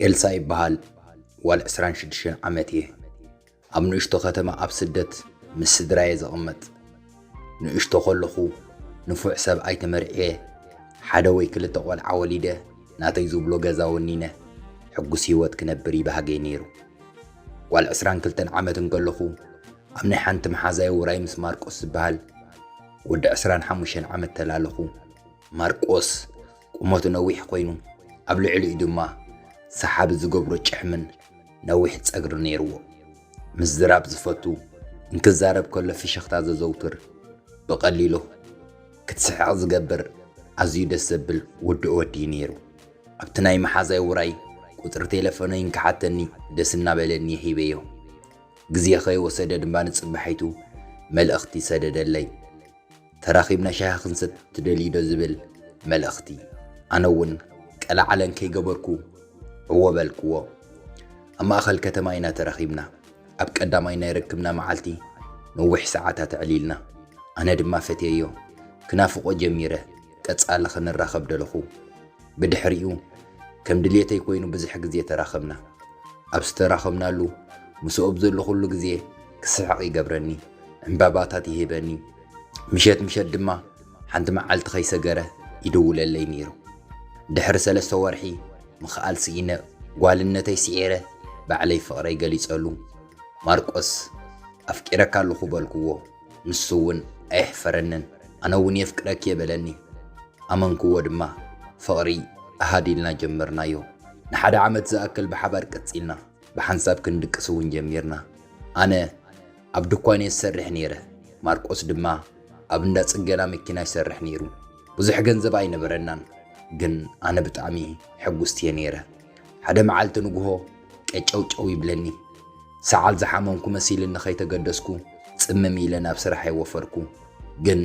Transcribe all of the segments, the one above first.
ኤልሳ ይበሃል ዋል 26 ዓመት እየ ኣብ ንእሽቶ ከተማ ኣብ ስደት ምስ ስድራየ ዘቕመጥ ንእሽቶ ከለኹ ንፉዕ ሰብኣይ ተመርዕየ፣ ሓደ ወይ ክልተ ቆልዓ ወሊደ ናተይ ዝብሎ ገዛ ወኒነ ሕጉስ ህይወት ክነብር ይብሃገይ ነይሩ። ጓል ዕስራን ክልተን ዓመት እንከለኹ ኣብ ናይ ሓንቲ መሓዛይ ውራይ ምስ ማርቆስ ዝበሃል ወዲ ዕስራን ሓሙሽተን ዓመት ተላለኹ። ማርቆስ ቁመቱ ነዊሕ ኮይኑ ኣብ ልዕሊኡ ድማ ሰሓቢ ዝገብሮ ጭሕምን ነዊሕ ጸግሪ ነይርዎ። ምዝራብ ዝፈቱ፣ እንክዛረብ ከሎ ፍሽኽታ ዘዘውትር፣ ብቐሊሉ ክትስሕቕ ዝገብር ኣዝዩ ደስ ዘብል ውዱእ ወዲ እዩ ነይሩ። ኣብቲ ናይ መሓዛይ ውራይ ቁጽሪ ቴለፎነይ እንክሓተኒ ደስ እናበለኒ ሂበዮ። ግዜ ከይወሰደ ድማ ንጽባሒቱ መልእኽቲ ሰደደለይ። ተራኺብና ሻሂ ክንሰቲ ትደልይዶ ዝብል መልእኽቲ። ኣነ እውን ቀለዓለም ከይገበርኩ ዕዎ በልክዎ። ኣብ ማእኸል ከተማ ኢና ተራኺብና። ኣብ ቀዳማይ ናይ ርክብና መዓልቲ ነዊሕ ሰዓታት ኣዕሊልና። ኣነ ድማ ፈትየዮ ክናፍቖ ጀሚረ። ቀጻሊ ክንራኸብ ደለኹ። ብድሕሪኡ ከም ድልየተይ ኮይኑ ብዝሕ ግዜ ተራኸብና። ኣብ ዝተራኸብናሉ ምስኡ ኣብ ዘለኹሉ ግዜ ክስሕቕ ይገብረኒ፣ ዕንባባታት ይህበኒ፣ ምሸት ምሸት ድማ ሓንቲ መዓልቲ ከይሰገረ ይድውለለይ ነይሩ። ድሕሪ ሰለስተ ወርሒ ምኽኣል ስኢነ ጓልነተይ ስዒረ ባዕለይ ፍቕረይ ገሊጸሉ። ማርቆስ ኣፍቂረካ ኣለኹ በልክዎ። ንሱ እውን ኣየሕፈረንን፣ ኣነ እውን የፍቅረኪ'የ በለኒ። ኣመንክዎ ድማ፣ ፍቕሪ ኣሃዱ ኢልና ጀመርናዮ። ንሓደ ዓመት ዝኣክል ብሓባር ቀጺልና፣ ብሓንሳብ ክንድቅስ እውን ጀሚርና። ኣነ ኣብ ድኳን'የ ዝሰርሕ ነይረ፣ ማርቆስ ድማ ኣብ እንዳ ጽገና መኪና ይሰርሕ ነይሩ። ብዙሕ ገንዘብ ኣይነበረናን፣ ግን ኣነ ብጣዕሚ ሕጉስቲ'የ ነይረ። ሓደ መዓልቲ ንግሆ፣ ቀጨውጨው ይብለኒ። ሰዓል ዝሓመምኩ መሲልኒ ከይተገደስኩ ጽምም ኢለ ናብ ስራሐይ ወፈርኩ። ግን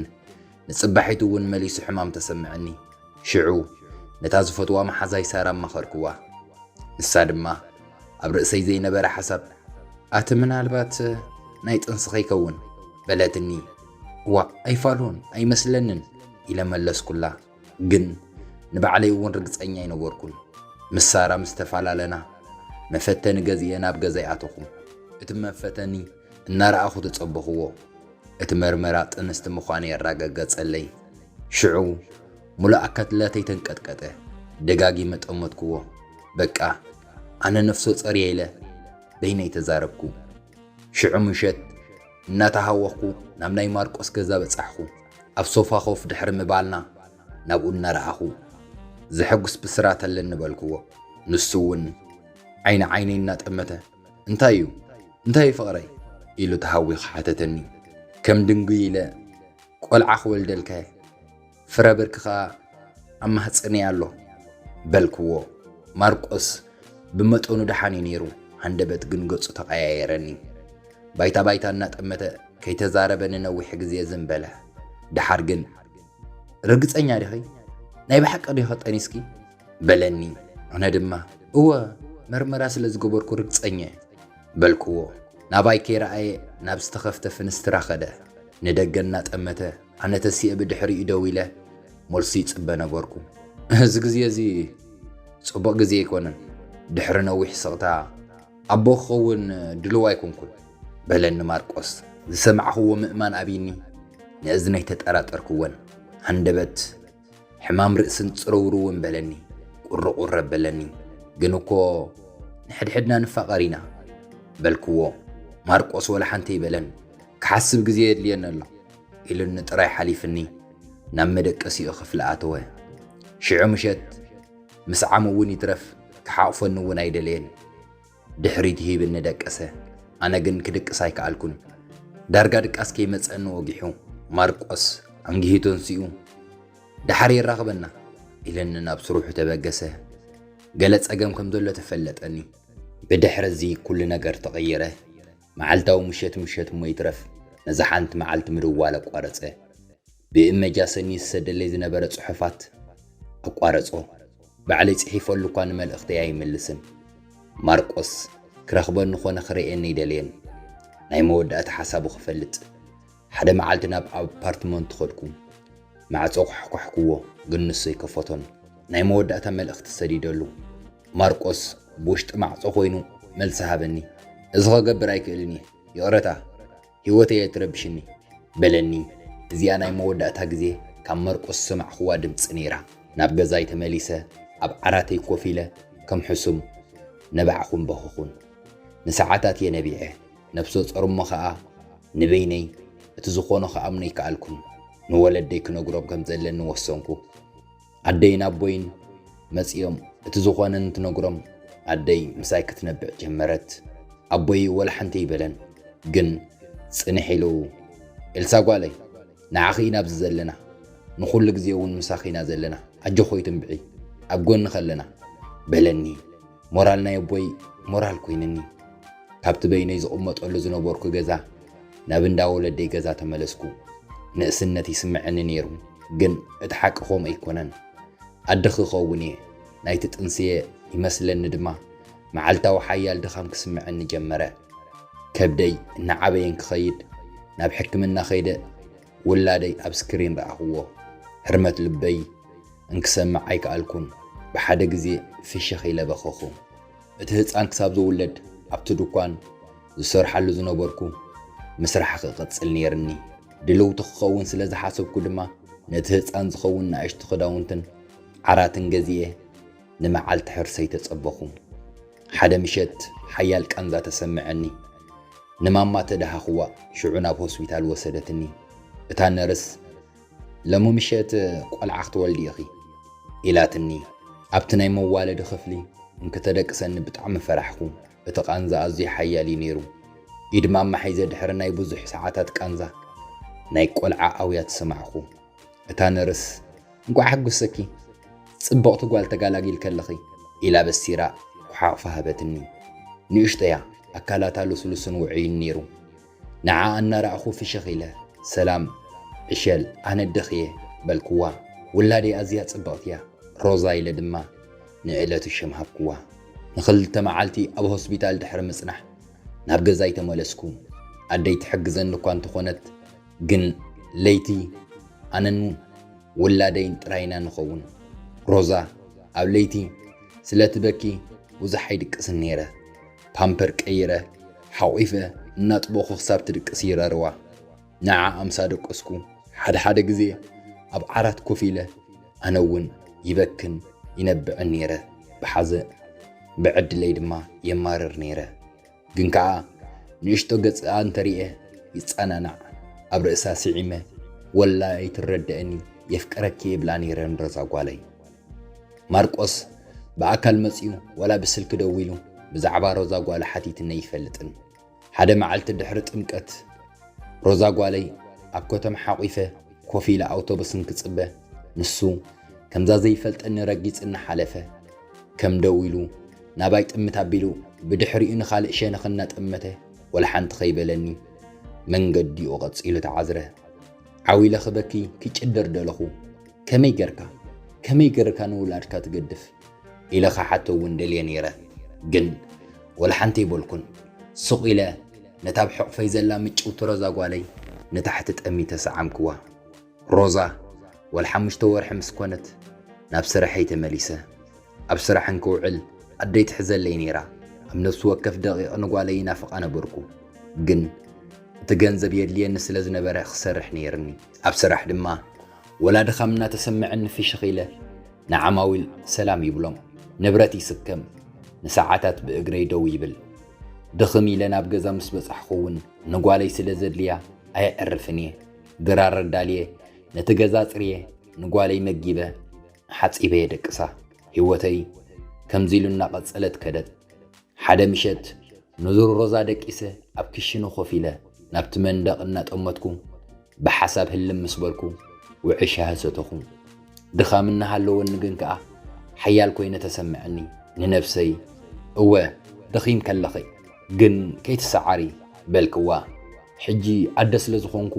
ንጽባሒቱ እውን መሊሱ ሕማም ተሰምዐኒ። ሽዑ ነታ ዝፈትዋ መሓዛይ ሳራ ኣማኸርክዋ። ንሳ ድማ ኣብ ርእሰይ ዘይነበረ ሓሳብ ኣቲ ምናልባት ናይ ጥንሲ ከይከውን በለትኒ። እዋእ ኣይፋሉን ኣይመስለንን ኢለ መለስኩላ። ግን ንባዕለይ እውን ርግጸኛ ኣይነበርኩን። ምስ ሳራ ምስ ተፈላለና፣ መፈተኒ ገዚኤ ናብ ገዛይ ኣተኹ። እቲ መፈተኒ እናረኣኹ ተጸበኹዎ። እቲ መርመራ ጥንስቲ ምዃነይ ኣራገገጸለይ። ሽዑ ሙሉእ ኣካትላተይ ተንቀጥቀጠ። ደጋጊመ ጠመትኩዎ። በቃ ኣነ ነፍሰጾር እየ ኢለ በይነይ ተዛረብኩ። ሽዑ ምሸት እናተሃወኽኩ ናብ ናይ ማርቆስ ገዛ በጻሕኩ። ኣብ ሶፋ ኮፍ ድሕሪ ምባልና ናብኡ እናረኣኹ፣ ዘሐጉስ ብስራት ኣለኒ በልክዎ። ንሱ እውን ዓይኒ ዓይነይ እናጠመተ እንታይ እዩ? እንታይ እዩ ፍቕረይ? ኢሉ ተሃዊኹ ሓተተኒ። ከም ድንጉይ ኢለ ቆልዓ ክወልደልካ እየ። ፍረ ብርኪ ኸኣ ኣብ ማህጸነይ ኣሎ በልክዎ። ማርቆስ ብመጠኑ ደሓን እዩ ነይሩ፣ ሃንደበት ግን ገጹ ተቐያየረኒ። ባይታ ባይታ እናጠመተ ከይተዛረበ ንነዊሕ ግዜ ዝም በለ። ደሓር ግን ርግጸኛ ዲኺ? ናይ ብሓቂ ዲኺ ጠኒስኪ? በለኒ። ኣነ ድማ እወ መርመራ ስለ ዝገበርኩ ርግጸኛ በልክዎ። ናባይ ከይረኣየ ናብ ዝተኸፍተ ፍንስትራ ከደ። ንደገ እናጠመተ ኣነ ተሲኤ ብድሕሪኡ ደው ኢለ መልሱ ይጽበ ነበርኩ። እዚ ግዜ እዚ ጽቡቕ ግዜ ኣይኮነን፣ ድሕሪ ነዊሕ ስቕታ ኣቦ ክኸውን ድሉው ኣይኮንኩን፣ በለኒ ማርቆስ። ዝሰማዕክዎ ምእማን ኣብዩኒ፣ ንእዝነይ ተጠራጠርክወን። ሃንደበት። ሕማም ርእስን ጽርውርው እውን በለኒ። ቁርቁር ኣበለኒ። ግን እኮ ንሕድሕድና ንፋቐር ኢና። በልክዎ። ማርቆስ ወላ ሓንቲ ኣይበለን። ክሓስብ ግዜ የድልየኒ ኣሎ። ኢሉኒ ጥራይ ሓሊፍኒ ናብ መደቀሲኡ ክፍሊ ኣተወ። ሽዑ ምሸት ምስዓሙ እውን ይትረፍ ክሓቑፈኒ እውን ኣይደለየን። ድሕሪት ይህብ እነደቀሰ፣ ኣነ ግን ክድቅስ ኣይከኣልኩን። ዳርጋ ድቃስ ከይመጸኒ ወጊሑ፣ ማርቆስ ኣንጊሂቱ ኣንሲኡ፣ ደሓር የራኽበና ኢለኒ ናብ ስርሑ ተበገሰ። ገለ ጸገም ከም ዘሎ ተፈለጠኒ። ብድሕርዚ ኩሉ ነገር ተቐይረ። መዓልታዊ ምሸት ምሸት እሞ ይትረፍ ነዛ ሓንቲ መዓልቲ ምድዋል ኣቋረጸ። ብእመጃ ሰኒ ዝሰደለይ ዝነበረ ጽሑፋት ኣቋረጾ። ባዕለይ ጽሒፈሉ እኳ ንመልእኽተይ ኣይምልስን። ማርቆስ ክረኽበኒ ኮነ ክርእየኒ ኣይደለየን። ናይ መወዳእታ ሓሳቡ ክፈልጥ። ሓደ መዓልቲ ናብ ኣፓርትመንቱ ኸድኩ። ማዕጾ ኳሕኳሕኩዎ፣ ግን ንሱ ኣይከፈቶን። ናይ መወዳእታ መልእኽቲ ሰዲደሉ። ማርቆስ ብውሽጢ ማዕጾ ኾይኑ መልሲ ሃበኒ። እዚ ኸገብር ኣይክእልን እየ። ይቕረታ፣ ህይወተይ ኣይትረብሽኒ። በለኒ። እዚኣ ናይ መወዳእታ ግዜ ካብ ማርቆስ ዝሰማዕኩዋ ድምጺ ነይራ። ናብ ገዛይ ተመሊሰ ኣብ ዓራተይ ኮፍ ኢለ ከም ሕሱም ነባዕኹን በኸኹን። ንሰዓታት እየ ነቢዐ። ነብሰ ጾር እሞ ከኣ ንበይነይ እቲ ዝኾኖ ክኣምኖ ኣይከኣልኩን። ንወለደይ ክነግሮም ከም ዘለኒ ወሰንኩ። ኣደይን ኣቦይን መጺኦም እቲ ዝኾነ እንትነግሮም ኣደይ ምሳይ ክትነብዕ ጀመረት። ኣቦይ ወላ ሓንቲ ኣይበለን ግን ጽንሕ ኢሉ ኤልሳ ጓለይ ንዓኺ ኢና ኣብዚ ዘለና ንኹሉ ግዜ እውን ምሳኺ ኢና ዘለና ኣጆኺ ኣይትንብዒ ኣብ ጎንኺ ኣለና በለኒ። ሞራል ናይ ኣቦይ ሞራል ኮይንኒ ካብቲ በይነይ ዝቕመጠሉ ዝነበርኩ ገዛ ናብ እንዳ ወለደይ ገዛ ተመለስኩ። ንእስነት ይስምዐኒ ነይሩ፣ ግን እቲ ሓቂ ከምኡ ኣይኮነን። ኣደ ክኸውን እየ፣ ናይቲ ጥንሲ እየ ይመስለኒ ድማ መዓልታዊ ሓያል ድኻም ክስምዐኒ ጀመረ። ከብደይ እናዓበየን ክኸይድ ናብ ሕክምና ከይደ ውላደይ ኣብ ስክሪን ረኣኽዎ ህርመት ልበይ እንክሰምዕ ኣይከኣልኩን ብሓደ ግዜ ፍሽኽ ኢለ በኸኹ እቲ ህጻን ክሳብ ዝውለድ ኣብቲ ድኳን ዝሰርሓሉ ዝነበርኩ ምስራሕ ክቕጽል ነይርኒ ድልውቲ ክኸውን ስለ ዝሓሰብኩ ድማ ነቲ ህጻን ዝኸውን ናእሽቱ ክዳውንትን ዓራትን ገዚኤ ንመዓልቲ ሕርሰይ ተጸበኹ ሓደ ምሸት ሓያል ቃንዛ ተሰመዐኒ። ንማማ ተደሃኹዋ፣ ሽዑ ናብ ሆስፒታል ወሰደትኒ። እታ ነርስ፣ ሎሚ ምሸት ቆልዓ ክትወልዲ ኢኺ። ኢላትኒ። ኣብቲ ናይ መዋለዲ ክፍሊ እንክተደቅሰኒ ብጣዕሚ ፈራሕኩ፣ እቲ ቃንዛ ኣዝዩ ሓያል እዩ ነይሩ። ኢድ ማማ ሒዘ ድሕሪ ናይ ብዙሕ ሰዓታት ቃንዛ ናይ ቆልዓ ኣውያት ሰማዕኩ። እታ ነርስ እንቋዕ ሓጎሰኪ ጽብቕቲ ጓል ተጋላጊል ከለኺ ኢላ በሲራ ኩሓቕፋ ሃበትኒ። ንእሽቶ'ያ፣ ኣካላታ ልስሉስን ውዑይን ነይሩ። ንዓኣ እናረኣኹ ፍሽኽ ኢለ፣ ሰላም ዕሸል ኣነ ኣደኺ'የ በልክዋ። ውላደይ ኣዝያ ጽብቕቲ'ያ ሮዛ ኢለ ድማ ንዕለቱ ሽም ሃብክዋ። ንኽልተ መዓልቲ ኣብ ሆስፒታል ድሕሪ ምጽናሕ ናብ ገዛይ ተመለስኩ። ኣደይ ትሕግዘኒ እኳ እንተኾነት ግን ለይቲ ኣነን ውላደይን ጥራይ ኢና ንኸውን። ሮዛ ኣብ ለይቲ ስለ ትበኪ ብዙሕ ኣይድቅስን ነይረ። ፓምፐር ቀይረ ሓቝፈ እናጥበኹ ክሳብ ትድቅስ ይረርዋ። ንዓኣ ምስ ኣደቀስኩ ሓድሓደ ግዜ ኣብ ዓራት ኮፍ ኢለ ኣነ እውን ይበክን ይነብዕን ነይረ ብሓዘን። ብዕድለይ ድማ የማርር ነይረ። ግን ከኣ ንእሽቶ ገጽኣ እንተሪኤ ይጸናናዕ ኣብ ርእሳ ሲዒመ ወላ ኣይትረደእኒ የፍቅረኪ ይብላ ነይረ ንሮዛ ጓለይ። ማርቆስ ብኣካል መጽዩ ወላ ብስልኪ ደዊሉ ብዛዕባ ሮዛ ጓሉ ሓቲትኒ ኣይፈልጥን። ሓደ መዓልቲ ድሕሪ ጥምቀት ሮዛ ጓለይ ኣብ ኮተም ሓቂፈ ኮፍ ኢለ ኣውቶቡስ እንክጽበ ንሱ ከምዛ ዘይፈልጠኒ ረጊጽኒ ሓለፈ። ከም ደው ኢሉ ናባይ ጥምት ኣቢሉ ብድሕሪኡ ንኻልእ ሸነኽ እናጠመተ ወላ ሓንቲ ከይበለኒ መንገዲኡ ቀጺሉ ተዓዝረ። ዓው ኢለ ክበኪ ክጭድር ደለኹ። ከመይ ገርካ ከመይ ገርካ ንውላድካ ትገድፍ ኢለ ክሓቶ እውን ደልየ ነይረ ግን ወላ ሓንቲ ኣይበልኩን። ሱቕ ኢለ ነታ ኣብ ሕቑፈይ ዘላ ምጭውቲ ሮዛ ጓለይ ንታሕቲ ጠሚተ ሰዓምክዋ። ሮዛ ጓል ሓሙሽተ ወርሒ ምስ ኮነት ናብ ስርሐይ ተመሊሰ። ኣብ ስራሕ እንክውዕል ኣደይ ትሕዘለይ ነይራ። ኣብ ነፍሲ ወከፍ ደቒቕ ንጓለይ ይናፍቓ ነበርኩ። ግን እቲ ገንዘብ የድልየኒ ስለ ዝነበረ ክሰርሕ ነይርኒ። ኣብ ስራሕ ድማ ወላ ድኻም እናተሰመዐኒ ፍሽኽ ኢለ ንዓማዊል ሰላም ይብሎም፣ ንብረት ይስከም፣ ንሰዓታት ብእግረይ ደው ይብል። ድኽም ኢለ ናብ ገዛ ምስ በጻሕኹ እውን ንጓለይ ስለ ዘድልያ ኣየዕርፍን እየ። ድራር ኣዳልየ ነቲ ገዛ ጽርየ ንጓለይ መጊበ ሓጺበ የደቅሳ ሂወተይ ከምዚ ኢሉ እናቐጸለት ከደት ሓደ ምሸት ንዙር ሮዛ ደቂሰ ኣብ ክሽነ ኮፍ ኢለ ናብቲ መንደቕ እናጠመትኩ ብሓሳብ ህልም ምስ በልኩ ውዕይ ሻሂ ሰተኹ ድኻም እናሃለወኒ ግን ከኣ ሓያል ኮይነ ተሰምዐኒ ንነብሰይ እወ ደኺም ከለኺ ግን ከይትሰዓሪ በልክዋ ሕጂ ኣደ ስለ ዝኾንኩ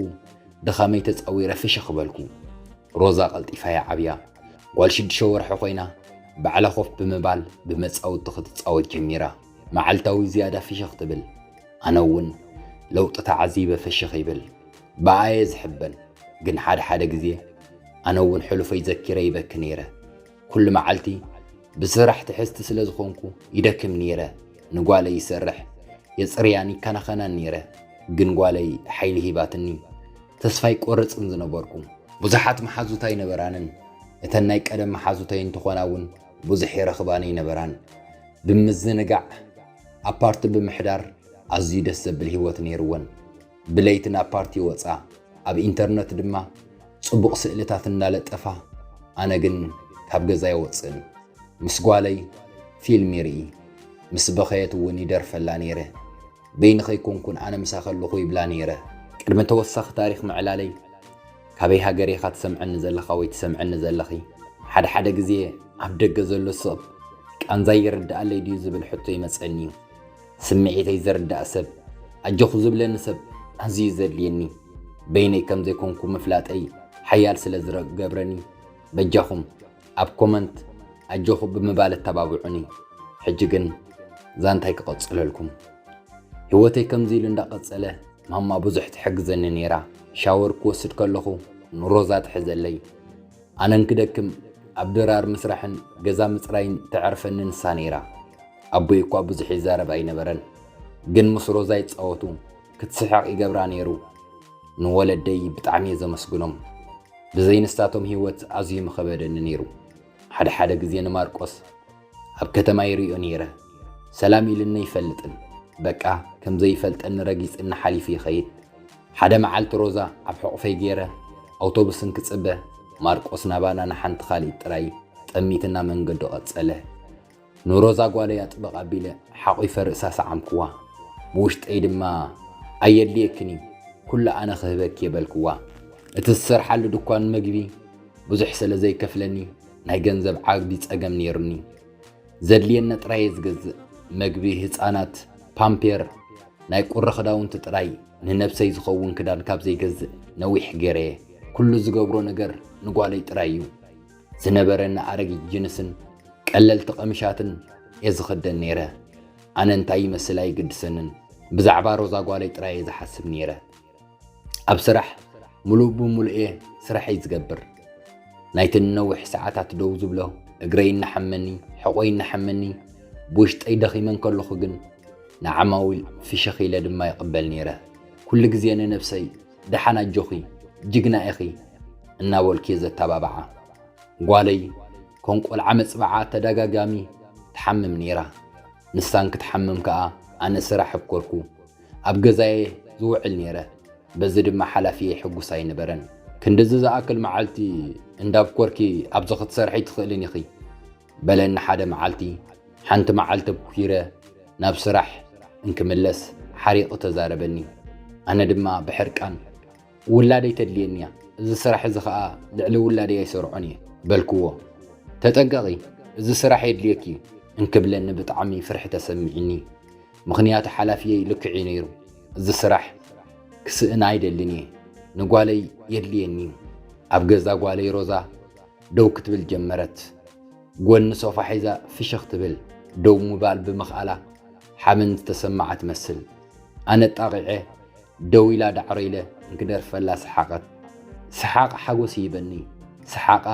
ድኻመይ ተጻዊረ ፍሽኽ በልኩ ሮዛ ቀልጢፋ'ያ ዓብያ ጓል ሽዱሽተ ወርሒ ኮይና ባዕላ ኮፍ ብምባል ብመጻውቲ ክትጻወት ጀሚራ መዓልታዊ ዝያዳ ፍሽኽ ትብል ኣነ እውን ለውጢ ተዓዚበ ፍሽኽ ይብል ብኣየ ዝሕበን ግን ሓደ ሓደ ግዜ ኣነ እውን ሕሉፈይ ዘኪረ ይበኪ ነይረ ኩሉ መዓልቲ ብስራሕ ትሕዝቲ ስለ ዝኾንኩ ይደክም ነይረ። ንጓለይ ይሰርሕ፣ የጽርያን ይከናኸናን ነይረ። ግን ጓለይ ሓይሊ ሂባትኒ ተስፋ ኣይቆርጽን ዝነበርኩ። ብዙሓት መሓዙት ኣይነበራንን፣ እተን ናይ ቀደም መሓዙተይ እንትኾና እውን ብዙሕ ይረኽባን ኣይነበራን። ብምዝንጋዕ ኣፓርት ብምሕዳር ኣዝዩ ደስ ዘብል ህይወት ነይርወን። ብለይቲ ናብ ፓርቲ ይወጻ፣ ኣብ ኢንተርነት ድማ ጽቡቕ ስእልታት እናለጠፋ፣ ኣነ ግን ካብ ገዛ ኣይወጽእን። ምስ ጓለይ ፊልም ይርኢ፣ ምስ በኸየት እውን ይደርፈላ ነይረ። በይኒ ከይኮንኩን ኣነ ምሳ ከለኹ ይብላ ነይረ። ቅድሚ ተወሳኺ ታሪኽ ምዕላለይ፣ ካበይ ሃገር ኢኻ ትሰምዐኒ ዘለኻ ወይ ትሰምዕኒ ዘለኺ? ሓደ ሓደ ግዜ ኣብ ደገ ዘሎ ሰብ ቃንዛይ ይርድኣለይ ድዩ ዝብል ሕቶ ይመጸኒ እዩ። ስምዒተይ ዝርዳእ ሰብ፣ ኣጆኺ ዝብለኒ ሰብ ኣዝዩ ዘድልየኒ፣ በይነይ ከም ዘይኮንኩ ምፍላጠይ ሓያል ስለ ዝገብረኒ፣ በጃኹም ኣብ ኮመንት ኣጆኺ ብምባል ኣተባብዑኒ። ሕጂ ግን ዛንታይ ክቐጽለልኩም። ህይወተይ ከምዚ ኢሉ እንዳቐጸለ ማማ ብዙሕ ትሕግዘኒ ነይራ። ሻወር ክወስድ ከለኹ ንሮዛ ትሕዘለይ። ኣነ እንክደክም ኣብ ድራር ምስራሕን ገዛ ምጽራይን ተዕርፈኒ ንሳ ነይራ። ኣቦይ እኳ ብዙሕ ይዛረብ ኣይነበረን፣ ግን ምስ ሮዛ ይጻወቱ ክትስሕቕ ይገብራ ነይሩ። ንወለደይ ብጣዕሚ እየ ዘመስግኖም፣ ብዘይ ንሳቶም ህይወት ኣዝዩ ምኸበደኒ ነይሩ። ሓደ ሓደ ግዜ ንማርቆስ ኣብ ከተማ ይርእዮ ነይረ። ሰላም ኢሉኒ ኣይፈልጥን። በቃ ከም ዘይፈልጠኒ ረጊጽኒ ሓሊፉ ይኸይድ። ሓደ መዓልቲ ሮዛ ኣብ ሕቑፈይ ገይረ ኣውቶቡስ እንክጽበ ማርቆስ ናባና ንሓንቲ ካልኢት ጥራይ ጠሚትና መንገዱ ቀጸለ። ንሮዛ ጓለይ ኣጥብቕ ኣቢለ ሓቚፈ ርእሳ ሰዓምክዋ። ብውሽጠይ ድማ ኣየድልየክን እዩ ኩሉ ኣነ ክህበኪ'የ በልክዋ። እቲ ዝሰርሓሉ ድኳን መግቢ ብዙሕ ስለ ዘይከፍለኒ ናይ ገንዘብ ዓቢ ጸገም ነይሩኒ። ዘድልየኒ ጥራየ ዝገዝእ፣ መግቢ ህጻናት፣ ፓምፔር፣ ናይ ቁሪ ክዳውንቲ ጥራይ፣ ንነብሰይ ዝኸውን ክዳን ካብ ዘይገዝእ ነዊሕ ገይረየ። ኩሉ ዝገብሮ ነገር ንጓለይ ጥራይ'ዩ። ዝነበረኒ ኣረጊት ጅንስን ቀለልቲ ቀሚሻትን እየ ዝኽደን ነይረ። ኣነ እንታይ ይመስል ኣይግድሰንን፣ ብዛዕባ ሮዛ ጓለይ ጥራየ ዝሓስብ ነይረ። ኣብ ስራሕ ምሉእ ብምሉእ እየ ስራሐይ ዝገብር። ናይቲ ንነዊሕ ሰዓታት ደው ዝብሎ እግረይ እናሓመኒ፣ ሕቖይ እናሓመኒ፣ ብውሽጠይ ደኺመ እንከለኹ ግን ንዓማዊል ፍሽኽ ኢለ ድማ ይቕበል ነይረ። ኩሉ ግዜ ንነብሰይ ደሓን ኣጆኺ፣ ጅግና ኢኺ እናበልኩ እየ ዘተባብዓ። ጓለይ ከም ቆልዓ መፅብዓ ተደጋጋሚ ትሓምም ነይራ። ንሳ እንክትሓምም ከኣ ኣነ ስራሕ ኣብኮርኩ። ኣብ ገዛ'የ ዝውዕል ነይረ፣ በዚ ድማ ሓላፊየይ ሕጉስ ኣይነበረን። ክንድዚ ዝኣክል መዓልቲ እንዳብ ኮርኪ ኣብዚ ክትሰርሒ ትኽእልን ኢኺ፣ በለኒ ሓደ መዓልቲ። ሓንቲ መዓልቲ ኲረ ናብ ስራሕ እንክምለስ ሓሪቑ ተዛረበኒ። ኣነ ድማ ብሕርቃን፣ ውላደይ ተድልየኒ'ያ፣ እዚ ስራሕ እዚ ከኣ ልዕሊ ውላደይ ኣይሰርዖን'የ፣ በልክዎ። ተጠንቀቒ፣ እዚ ስራሕ የድልየኪ'ዩ፣ እንክብለኒ ብጣዕሚ ፍርሒ ተሰሚዑኒ። ምኽንያቱ ሓላፍየይ ልክዕ'ዩ ነይሩ፣ እዚ ስራሕ ክስእን ኣይደልን እየ፣ ንጓለይ የድልየኒ። ኣብ ገዛ ጓለይ ሮዛ ደው ክትብል ጀመረት። ጎኒ ሶፋ ሒዛ ፍሽኽ ትብል፣ ደው ምባል ብምኽኣላ ሓበን ዝተሰመዓ ትመስል። ኣነ ጣቒዐ ደው ኢላ ዳዕሮ ኢለ እንክደርፈላ ሰሓቐት። ሰሓቓ ሓጎስ ይህበኒ፣ ሰሓቓ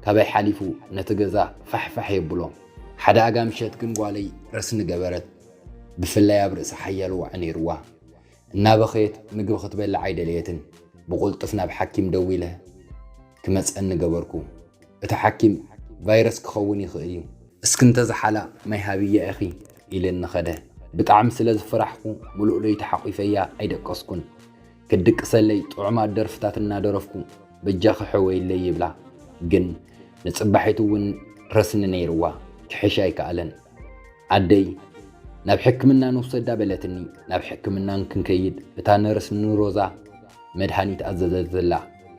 ካባይ ሓሊፉ ነቲ ገዛ ፋሕፋሕ የብሎ። ሓደ ኣጋ ምሸት ግን ጓለይ ረስኒ ገበረት፣ ብፍላይ ኣብ ርእሳ ሓያል ዋዒ ነይሩዋ። እናበኸየት ምግቢ ክትበልዕ ኣይደለየትን። ብቕልጡፍ ናብ ሓኪም ደዊለ ክመጸኒ ገበርኩ። እቲ ሓኪም ቫይረስ ክኸውን ይኽእል እዩ። እስኪ እንተዝሓላ ማይ ሃብያ ኢኺ ኢልኒ ከደ። ብጣዕሚ ስለ ዝፈራሕኩ ምሉእ ለይቲ ሓቚፈያ ኣይደቀስኩን። ክትድቅሰለይ ጥዑማት ደርፍታት እናደረፍኩ በጃኺ ሕወይለይ ይብላ ግን ንጽባሒቱ እውን ረስኒ ነይርዋ ክሕሽ ኣይከኣለን ኣደይ ናብ ሕክምና ንውሰዳ በለትኒ ናብ ሕክምና እንክንከይድ እታ ነርስ ንሮዛ መድሃኒት ኣዘዘትላ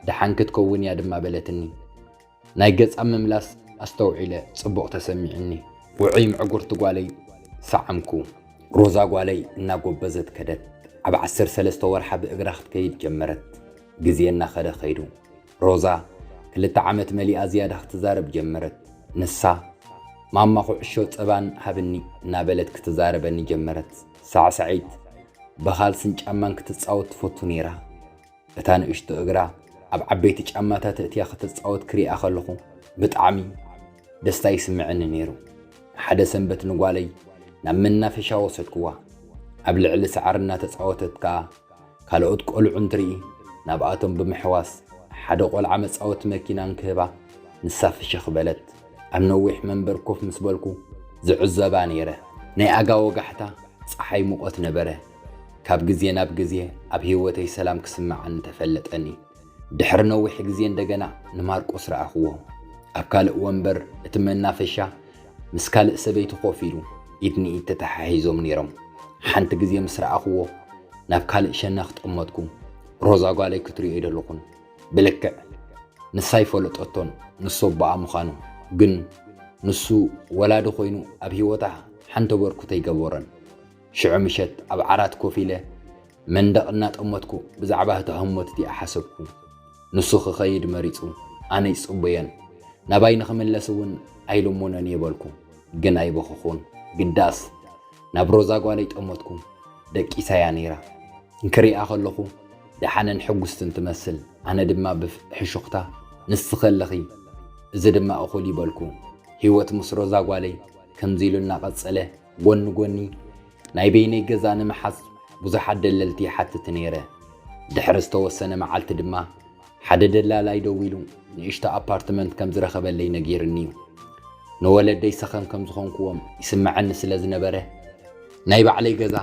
ደሓን ክትከውን እያ ድማ በለትኒ ናይ ገጻ ምምላስ ኣስተውዒለ ጽቡቕ ተሰሚዑኒ። ውዑይ ምዕጉርቲ ጓለይ ሰዓምኩ። ሮዛ ጓለይ እናጎበዘት ከደት። ኣብ ዓሰርተ ሰለስተ ወርሓ ብእግራ ክትከይድ ጀመረት። ግዜ እናኸደ ከይዱ። ሮዛ ክልተ ዓመት መሊኣ ዝያዳ ክትዛረብ ጀመረት። ንሳ ማማ ኩዕሾ ጸባን ሃብኒ እናበለት ክትዛረበኒ ጀመረት። ሳዕሳዒት፣ ብኻልስን ጫማን ክትጻወት ትፈቱ ነይራ። እታ ንእሽቶ እግራ ኣብ ዓበይቲ ጫማታት እትያ ክትጻወት ክሪኣ ከለኹ ብጣዕሚ ደስታ ይስምዕኒ ነይሩ። ሓደ ሰንበት ንጓለይ ናብ መናፈሻ ወሰድኩዋ። ኣብ ልዕሊ ሳዕሪ እናተጻወተት ከኣ ካልኦት ቆልዑ እንትርኢ ናብኣቶም ብምሕዋስ ሓደ ቆልዓ መጻወቲ መኪና እንክህባ ንሳ ፍሽኽ በለት። ኣብ ነዊሕ መንበር ኮፍ ምስ በልኩ ዝዕዘባ ነይረ። ናይ ኣጋ ወጋሕታ ጸሓይ ሙቐት ነበረ። ካብ ግዜ ናብ ግዜ ኣብ ህይወተይ ሰላም ክስምዓኒ ተፈለጠኒ። ድሕሪ ነዊሕ ግዜ እንደገና ንማርቆስ ረኣኽዎ። ኣብ ካልእ ወንበር እቲ መናፈሻ ምስ ካልእ ሰበይቲ ኮፍ ኢሉ ኢድ ንኢድ ተተሓሒዞም ነይሮም። ሓንቲ ግዜ ምስ ረኣኽዎ ናብ ካልእ ሸነኽ ጠመትኩ። ሮዛ ጓለይ ክትሪኦ ኣይደለኹን። ብልክዕ ንሳ ኣይፈለጠቶን ንሱ ኣቦኣ ምዃኑ። ግን ንሱ ወላዲ ኮይኑ ኣብ ህይወታ ሓንቲ ኣበርክቶ ኣይገበረን። ሽዑ ምሸት ኣብ ዓራት ኮፍ ኢለ መንደቕ እናጠመትኩ ብዛዕባ እታ ህሞት እቲኣ ሓሰብኩ። ንሱ ክኸይድ መሪጹ፣ ኣነ ይጽበዮን ናባይ ንኽምለስ እውን ኣይልሙኖን እየ በልኩ። ግን ኣይበኸኹን፣ ግዳስ ናብ ሮዛ ጓለይ ጠመትኩ። ደቂሳ እያ ነይራ። እንክሪኣ ከለኹ ደሓንን ሕጉስትን ትመስል፣ ኣነ ድማ ብሕሹኽታ ንስኺ ኣለኺ፣ እዚ ድማ እኹል እዩ በልኩ። ህይወት ምስ ሮዛ ጓለይ ከምዚ ኢሉ እናቐጸለ ጎኒ ጎኒ ናይ በይነይ ገዛ ንምሓዝ ብዙሓት ደለልቲ ይሓትት ነይረ። ድሕሪ ዝተወሰነ መዓልቲ ድማ ሓደ ደላላይ ደዊሉ ንእሽቶ ኣፓርትመንት ከም ዝረኸበለይ ነጊሩኒ'ዩ። ንወለደይ ሰኸም ከም ዝኾንኩዎም ይስመዐኒ ስለ ዝነበረ፣ ናይ ባዕለይ ገዛ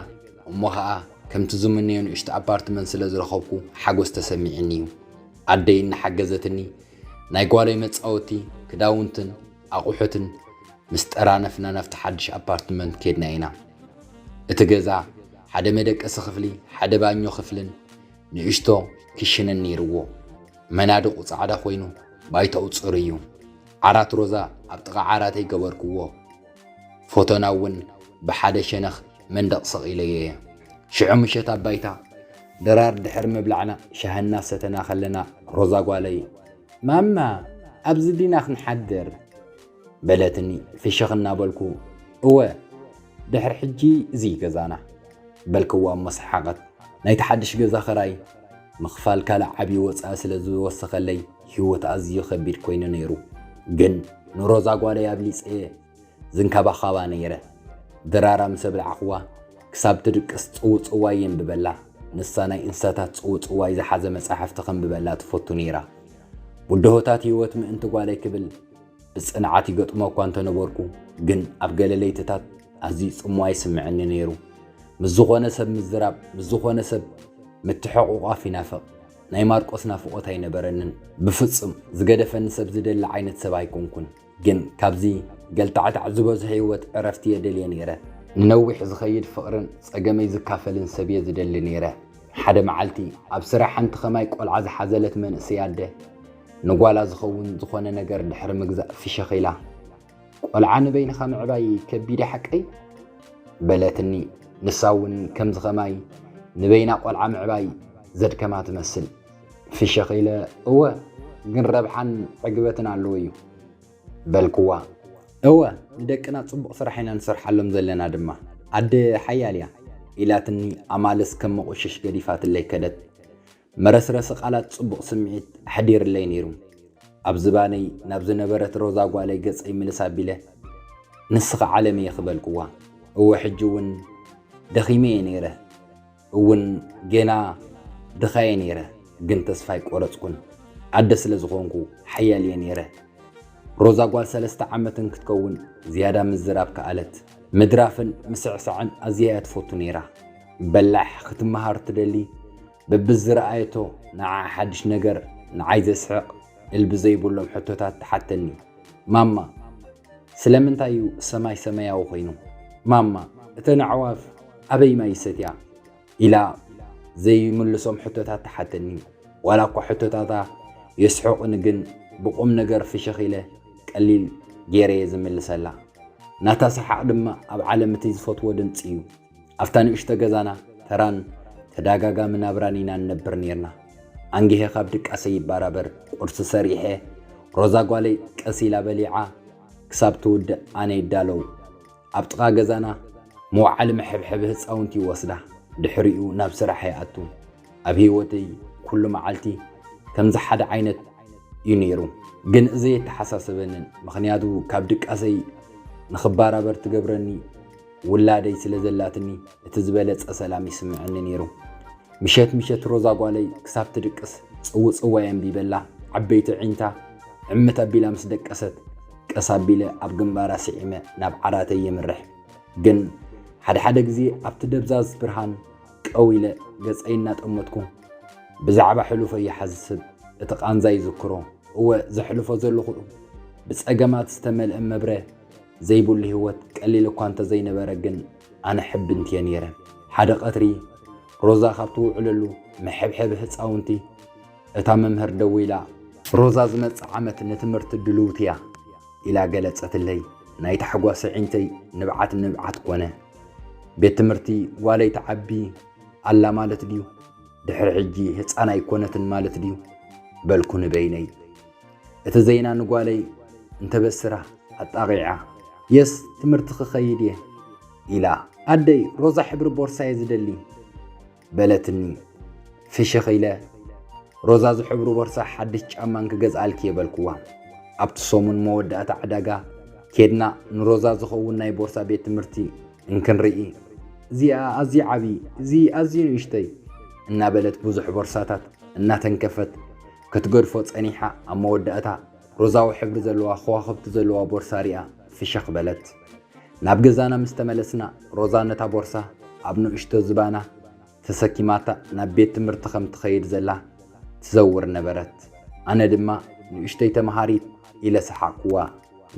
እሞ ኸኣ ከምቲ ዝምነዮ ንእሽቶ ኣፓርትመንት ስለ ዝረኸብኩ ሓጎስ ተሰሚዑኒ'ዩ። ኣደይ እናሓገዘትኒ ናይ ጓለይ መጻወቲ፣ ክዳውንትን ኣቑሑትን ምስ ጠራነፍና ናብቲ ሓድሽ ኣፓርትመንት ከድና ኢና። እቲ ገዛ ሓደ መደቀሲ ክፍሊ፣ ሓደ ባኞ ክፍልን ንእሽቶ ክሽንን ነይርዎ። መናድቑ ጻዕዳ ኮይኑ ባይታኡ ጽሩይ እዩ። ዓራት ሮዛ ኣብ ጥቓ ዓራተይ ገበርክዎ። ፎቶና እውን ብሓደ ሸነኽ መንደቕ ሰቒለዮ እየ። ሽዑ ምሸት ኣብ ባይታ ድራር ድሕሪ ምብላዕና ሻሂ እናሰተና ከለና ሮዛ ጓለይ ማማ ኣብዚ ዲና ክንሓድር? በለትኒ ፍሽኽ እናበልኩ። እወ ድሕሪ ሕጂ እዚ'ዩ ገዛና። በልክዋ'ሞ ሰሓቐት። ናይቲ ሓድሽ ገዛ ክራይ ምኽፋል ካልእ ዓቢ ወጻኢ ስለ ዝወሰኸለይ ህይወት ኣዝዩ ከቢድ ኮይኑ ነይሩ። ግን ንሮዛ ጓለይ ኣብሊጸ'የ ዝንከባኸባ ነይረ። ድራራ ምስ ኣብላዕኹዋ ክሳብ ትድቅስ ጽውጽዋይ የንብበላ፣ ንሳ ናይ እንስሳታት ጽውጽዋይ ዝሓዘ መጻሕፍቲ ከንብበላ ትፈቱ ነይራ። ብድሆታት ህይወት ምእንቲ ጓለይ ክብል ብጽንዓት ይገጥሞ እኳ እንተ ነበርኩ፣ ግን ኣብ ገለ ለይትታት ኣዝዩ ጽምዋ ይስምዓኒ ነይሩ። ምስ ዝዀነ ሰብ ምዝራብ፣ ምስ ዝዀነ ሰብ ምትሕቝቋፍ ይናፍቕ። ናይ ማርቆስ ናፍቖት ኣይነበረንን። ብፍጹም ዝገደፈኒ ሰብ ዝደሊ ዓይነት ሰብ ኣይኰንኩን። ግን ካብዚ ገልታዕታዕ ዝበዝሖ ህይወት ዕረፍቲ የደልየ ነይረ። ንነዊሕ ዝኸይድ ፍቕርን ጸገመይ ዝካፈልን ሰብ'የ ዝደሊ ነይረ። ሓደ መዓልቲ ኣብ ስራሕ ሓንቲ ከማይ ቆልዓ ዝሓዘለት መንእሰይ ኣደ፣ ንጓላ ዝኸውን ዝኾነ ነገር ድሕሪ ምግዛእ ፍሽኽ ኢላ፣ ቆልዓ ንበይንኻ ምዕባይ ከቢድ'ዩ ሓቀይ? በለትኒ። ንሳ'ውን ከምዚ ከማይ ንበይና ቆልዓ ምዕባይ ዘድከማ ትመስል። ፍሽኽ ኢለ እወ ግን ረብሓን ዕግበትን ኣለዎ እዩ በልክዋ። እወ ንደቅና ጽቡቕ ስራሕ ኢና ንሰርሓሎም ዘለና ድማ ኣደ ሓያል እያ ኢላትኒ ኣማልስ ከም መቑሽሽ ገዲፋትለይ ከደት። መረስረሲ ቃላት ጽቡቕ ስምዒት ኣሕዲርለይ ነይሩ። ኣብ ዝባነይ ናብ ዝነበረት ሮዛ ጓለይ ገጸይ ምልስ ኣቢለ ንስኺ ዓለመይ ኢኺ በልክዋ። እወ ሕጂ እውን ደኺመ እየ ነይረ። እውን ጌና ድኻ እየ ነይረ ግን ተስፋ ኣይቆረጽኩን ኣደ ስለ ዝኾንኩ ሓያል እየ ነይረ። ሮዛ ጓል ሰለስተ ዓመት እንክትከውን ዝያዳ ምዝራብ ከኣለት። ምድራፍን ምስዕሳዕን ኣዝያ እያ ትፈቱ ነይራ። በላሕ ክትመሃር ትደሊ በብዝረኣየቶ ንዓኣ ሓድሽ ነገር ንዓይ ዘስሕቕ እልቢ ዘይብሎም ሕቶታት ትሓተኒ። ማማ ስለምንታይ እዩ ሰማይ ሰመያዊ ኮይኑ? ማማ እተን ኣዕዋፍ ኣበይ ማይ ይሰትያ? ኢላ ዘይምልሶም ሕቶታት ትሓተኒ። ዋላኳ ሕቶታታ የስሕቑኒ ግን ብቑምነገር ፍሽኽ ኢለ ቀሊል ገይረ'የ ዝምልሰላ። ናታ ሰሓቕ ድማ ኣብ ዓለም እቲ ዝፈትዎ ድምጺ እዩ። ኣብታ ንእሽቶ ገዛና ተራን ተዳጋጋሚ ናብራን ኢና ንነብር ኔርና። ኣንጊሀ ካብ ድቃሰይ ይባራበር ቁርሲ ሰሪሐ ሮዛ ጓለይ ቀስ ኢላ በሊዓ ክሳብ ትውድእ ኣነ ይዳለው። ኣብ ጥቃ ገዛና መውዓሊ መሐብሐቢ ህጻውንቲ ይወስዳ ድሕሪኡ ናብ ስራሕ ይኣቱ። ኣብ ሂወተይ ኩሉ መዓልቲ ከምዚ ሓደ ዓይነት ዩ ኔሩ። ግን እዚ ኣይተሓሳሰበንን ምኽንያቱ ካብ ድቃሰይ ንኽባራበር ትገብረኒ ውላደይ ስለ ዘላትኒ እቲ ዝበለጸ ሰላም ይስምዐኒ ነይሩ። ምሸት ምሸት ሮዛ ጓለይ ክሳብ ትድቅስ ጽውጽዋይ ኣንቢበላ ዓበይቲ ኣዒንታ ዕምት ኣቢላ ምስ ደቀሰት፣ ቀስ ኣቢለ ኣብ ግንባራ ስዒመ ናብ ዓራተይ የምርሕ። ግን ሓደ ሓደ ግዜ ኣብቲ ደብዛዝ ብርሃን ቀው ኢለ ገጸይ እናጠመትኩ ብዛዕባ ሕሉፈይ ይሓስብ፣ እቲ ቃንዛ ይዝክሮ። እወ ዘሕልፎ ዘለኹ ብጸገማት ዝተመልአ መብረ። ዘይብሉ ህይወት ቀሊል እኳ እንተ ዘይነበረ ግን ኣነ ሕብንቲ'የ ነይረ። ሓደ ቀትሪ ሮዛ ካብ ትውዕለሉ መሐብሐቢ ህጻውንቲ እታ መምህር ደዊላ፣ ሮዛ ዝመጽእ ዓመት ንትምህርቲ ድልውቲ'ያ ኢላ ገለጸትለይ። ናይ ታሕጓስ ኣዒንተይ ንብዓት ንብዓት ኮነ። ቤት ትምህርቲ ጓለይ ትዓቢ ኣላ ማለት ድዩ? ድሕሪ ሕጂ ህጻን ኣይኮነትን ማለት ድዩ? በልኩ ንበይነይ። እቲ ዜና ንጓለይ እንተበስራ ኣጣቒዓ፣ የስ ትምህርቲ ክኸይድ እየ ኢላ። ኣደይ ሮዛ ሕብሪ ቦርሳ እየ ዝደሊ በለትኒ። ፍሽኽ ኢለ ሮዛ ዝሕብሩ ቦርሳ ሓድሽ ጫማን ክገዝኣልኪ እየ በልኩዋ። ኣብቲ ሰሙን መወዳእታ ዕዳጋ ኬድና ንሮዛ ዝኸውን ናይ ቦርሳ ቤት ትምህርቲ እንክንርኢ እዚኣ ኣዝዩ ዓብዪ እዚ ኣዝዩ ንእሽተይ እናበለት ብዙሕ ቦርሳታት እናተንከፈት ክትገድፎ ጸኒሓ ኣብ መወዳእታ ሮዛዊ ሕብሪ ዘለዋ ከዋኽብቲ ዘለዋ ቦርሳ ሪኣ ፍሽኽ በለት። ናብ ገዛና ምስ ተመለስና ሮዛ ነታ ቦርሳ ኣብ ንእሽቶ ዝባና ተሰኪማታ ናብ ቤት ትምህርቲ ከም ትኸይድ ዘላ ትዘውር ነበረት። ኣነ ድማ ንእሽቶይ ተመሃሪት ኢለ ሰሓቕኩዋ።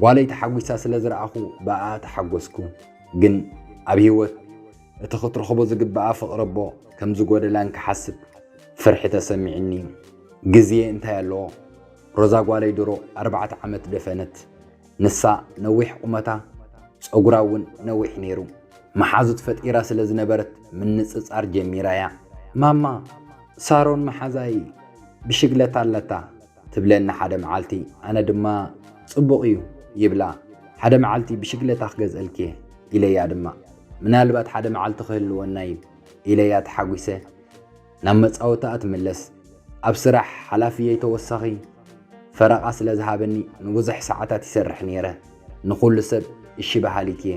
ጓለይ ተሓጒሳ ስለ ዝረኣኹ ብኣኣ ተሓጐስኩ። ግን ኣብ ህይወት። እቲ ክትረኽቦ ዝግብኣ ፍቕረቦ ከም ዝጎደላን ክሓስብ ፍርሒ ተሰሚዕኒ። ግዜ እንታይ ኣለዎ? ሮዛ ጓለይ ድሮ ኣርባዕተ ዓመት ደፈነት። ንሳ ነዊሕ ቁመታ ጸጉራ እውን ነዊሕ ነይሩ። መሓዙት ፈጢራ ስለ ዝነበረት ምንጽጻር ጀሚራ እያ። ማማ፣ ሳሮን መሓዛይ ብሽግለታ ኣለታ። ትብለኒ ሓደ መዓልቲ ኣነ ድማ ጽቡቕ እዩ ይብላ ሓደ መዓልቲ ብሽግለታ ክገዝእልኪ እየ ኢለያ ድማ ምናልባት ሓደ መዓልቲ ክህልወና እዩ ኢለያ ተሓጒሰ ናብ መጻወታኣ ትምለስ ኣብ ስራሕ ሓላፍየይ ተወሳኺ ፈረቓ ስለ ዝሃበኒ ንብዙሕ ሰዓታት ይሰርሕ ነይረ ንኹሉ ሰብ እሺ በሃሊት እየ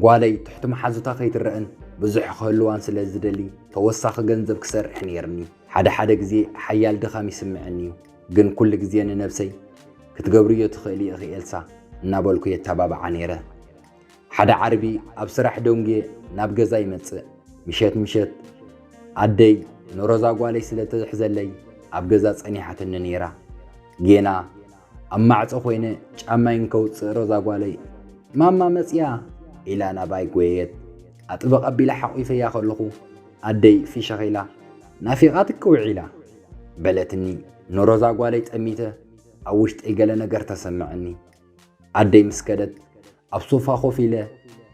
ጓለይ ትሕቲ መሓዙታ ከይትረእን ብዙሕ ክህልዋን ስለ ዝደሊ ተወሳኺ ገንዘብ ክሰርሕ ነይርኒ ሓደ ሓደ ግዜ ሓያል ድኻም ይስምዐኒ እዩ፣ ግን ኩሉ ግዜ ንነብሰይ ክትገብርዮ ትኽእሊ ኢኺ ኤልሳ እናበልኩ የተባብዓ ነይረ። ሓደ ዓርቢ ኣብ ስራሕ ደንጉየ ናብ ገዛ ይመጽእ፣ ምሸት ምሸት ኣደይ ንሮዛ ጓለይ ስለ እትሕዘለይ ኣብ ገዛ ጸኒሓትኒ ነይራ። ጌና ኣብ ማዕጾ ኮይነ ጫማይ እንከውጽእ ሮዛ ጓለይ ማማ መጺኣ! ኢላ ናባይ ጎየየት፣ ኣጥብቕ ኣቢለ ሓቚፈያ ከለኹ፣ ኣደይ ፍሽኽ ኢላ፣ ናፊቓትኪ ውዒላ። በለትኒ። ንሮዛ ጓለይ ጠሚተ ኣብ ውሽጠይ ገለ ነገር ተሰመዐኒ። ኣደይ ምስ ከደት ኣብ ሶፋ ኮፍ ኢለ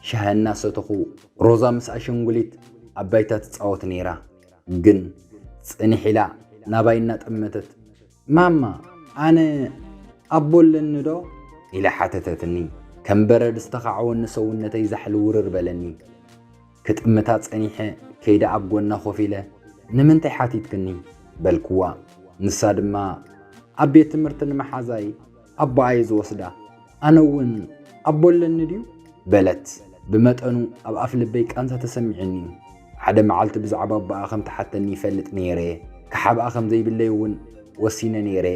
ሻሂ እናሰተኹ፣ ሮዛ ምስ ኣሸንጉሊት ኣብ ባይታ ትጻወት ነይራ። ግን ጽንሕ ኢላ ናባይ እናጠመተት፣ ማማ ኣነ ኣቦ ኣለኒ ዶ? ኢላ ሓተተትኒ። ከም በረድ ዝተኻዕወኒ ሰውነተይ ዛሕሊ ውርር በለኒ። ክጥምታ ጸኒሐ ከይደ ኣብ ጎና ኮፍ ኢለ ንምንታይ ሓቲትክኒ? በልክዋ። ንሳ ድማ ኣብ ቤት ትምህርቲ ንመሓዛይ ኣቦኣየ ዝወስዳ ኣነ እውን ኣቦ ኣለኒ ድዩ? በለት። ብመጠኑ ኣብ ኣፍ ልበይ ቃንዛ ተሰሚዑኒ። ሓደ መዓልቲ ብዛዕባ ኣቦኣ ከም ትሓተኒ ይፈልጥ ነይረ። ክሓብኣ ከም ዘይብለይ እውን ወሲነ ነይረ።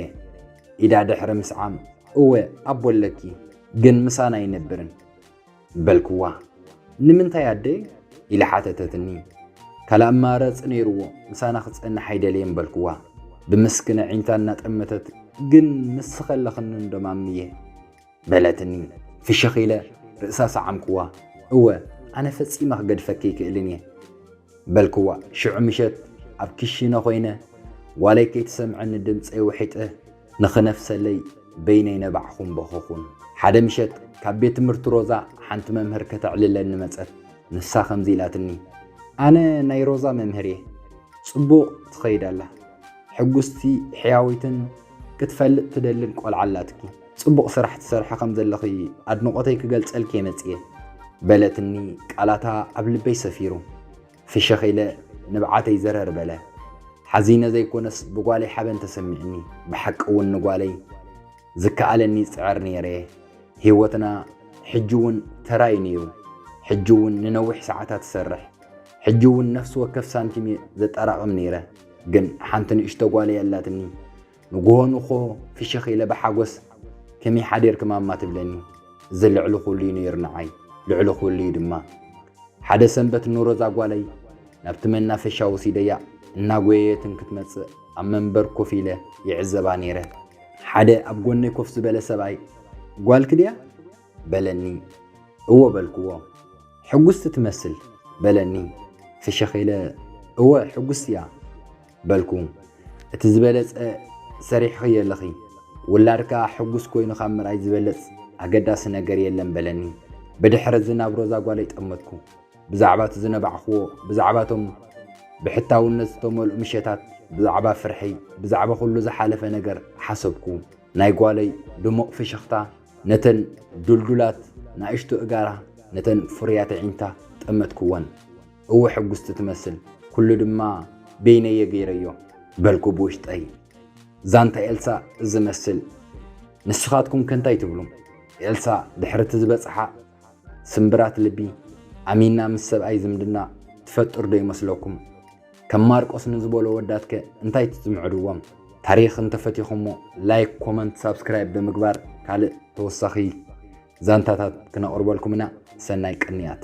ኢዳ ድሕሪ ምስዓም እወ ኣቦ ኣለኪ ግን ምሳና ኣይነብርን። በልክዋ። ንምንታይ ኣደይ? ኢላ ሓተተትኒ። ካልእ ኣማራጺ ነይርዎ፣ ምሳና ክጸንሕ ኣይደለየን በልክዋ ብምስክን ኣዒንታ እናጠመተት። ግን ንስኺ ከለኽንንዶ ማምየ? በለትኒ። ፍሽኽ ኢለ ርእሳ ሰዓምክዋ። እወ፣ ኣነ ፈጺመ ክገድፈኪ ኣይክእልን እየ። በልክዋ ሽዑ ምሸት ኣብ ክሽነ ኮይነ ጓለይ ከይትሰምዐኒ ድምጸይ ውሒጠ ንኽነፍሰለይ በይነይ ነባዕኹን በኸኹን። ሓደ ምሸት ካብ ቤት ትምህርቲ ሮዛ ሓንቲ መምህር ከተዕልለኒ መጸት ንሳ ከምዚ ኢላትኒ። ኣነ ናይ ሮዛ መምህር እየ። ጽቡቕ ትኸይድ ኣላ። ሕጉስቲ ሕያወይትን ክትፈልጥ ትደልን ቆልዓ ኣላትኪ። ጽቡቕ ስራሕ ትሰርሒ ከም ዘለኺ ኣድንቖተይ ክገልጸልኪ'የ መጺኤ። በለትኒ ቃላታ ኣብ ልበይ ሰፊሩ። ፍሽኽ ኢለ ንብዓተይ ዘረር በለ። ሓዚነ ዘይኮነስ ብጓለይ ሓበን ተሰሚዑኒ። ብሓቂ'ውን ንጓለይ ዝከኣለኒ ይጽዕር ነይረ'የ። ህይወትና ሕጂ'ውን ተራ'ዩ ነይሩ። ሕጂ'ውን ንነዊሕ ሰዓታት እሰርሕ። ሕጂ'ውን ነፍሲ ወከፍ ሳንቲም'የ ዘጠራቕም ነይረ። ግን ሓንቲ ንእሽቶ ጓለይ ኣላትኒ። ንግሆ ንግሆ ፍሽኽ ኢለ ብሓጎስ ከመይ ሓዲርኪ ማማ ትብለኒ። እዚ ልዕሊ ኩሉ እዩ ነይሩ ንዓይ፣ ልዕሊ ኩሉ እዩ ድማ። ሓደ ሰንበት ንሮዛ ጓለይ ናብቲ መናፈሻ ወሲደያ እናጎየየትን ክትመጽእ ኣብ መንበር ኮፍ ኢለ ይዕዘባ ነይረ። ሓደ ኣብ ጎነይ ኮፍ ዝበለ ሰብኣይ ጓልኪ ድያ? በለኒ። እወ በልክዎ። ሕጉስቲ ትመስል በለኒ። ፍሽኽ ኢለ እወ ሕጉስቲ እያ በልኩ። እቲ ዝበለጸ ሰሪሕኽዮ ኣለኺ። ውላድካ ሕጉስ ኮይኑ ካብ ምርኣይ ዝበለጽ ኣገዳሲ ነገር የለን በለኒ። ብድሕሪ እዚ ናብ ሮዛ ጓለይ ጠመትኩ። ብዛዕባ እቲ ዝነባዕክዎ፣ ብዛዕባ እቶም ብሕታውነት ዝተመልኡ ምሸታት፣ ብዛዕባ ፍርሒ፣ ብዛዕባ ኩሉ ዝሓለፈ ነገር ሓሰብኩ። ናይ ጓለይ ድሙቕ ፍሽኽታ ነተን ዱልዱላት ናእሽቱ እጋራ ነተን ፍሩያት ኣዒንታ ጠመትክወን። እወ ሕጉስቲ ትመስል፣ ኩሉ ድማ በይነይ'የ ገይረዮ። በልኩ ብውሽጠይ። ዛንታ ኤልሳ ዝመስል። ንስኻትኩምከ እንታይ ትብሉ? ኤልሳ ድሕሪ'ቲ ዝበጽሓ ስምብራት ልቢ ኣሚና ምስ ሰብኣይ ዝምድና ትፈጥር'ዶ ይመስለኩም? ከም ማርቆስ ንዝበሎ ወዳት ከ እንታይ ትጽምዕድዎም? ታሪኽ እንተፈቲኹሞ ላይክ፣ ኮመንት፣ ሳብስክራይብ ብምግባር ካልእ ተወሳኺ ዛንታታት ክነቕርበልኩም ኢና። ሰናይ ቅንያት።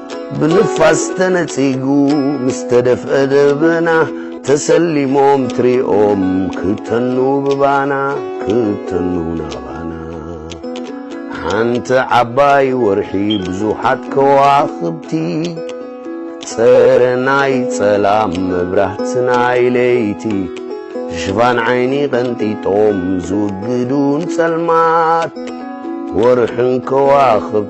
ብንፋስ ተነጺጉ ምስ ተደፍአ ደበና ተሰሊሞም ትሪኦም ክተኑ ብባና ክተኑ ናባና ሓንቲ ዓባይ ወርሒ ብዙሓት ከዋኽብቲ ጸረ ናይ ጸላም መብራህቲ ናይ ለይቲ ሽፋን ዓይኒ ቀንጢጦም ዝውግዱን ጸልማት ወርሕን ከዋኽብ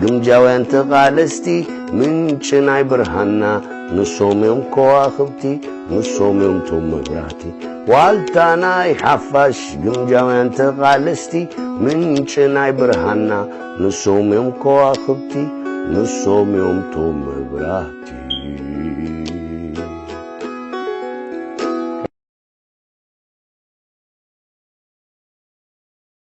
ግምጃውያን ተቓለስቲ ምንጪ ናይ ብርሃንና ንሶም እዮም ከዋኽብቲ ንሶም እዮም ቶም መብራህቲ ዋልታ ናይ ሓፋሽ ግምጃውያን ተቓለስቲ ምንጪ ናይ ብርሃንና ንሶም እዮም ከዋኽብቲ ንሶም እዮም ቶም መብራህቲ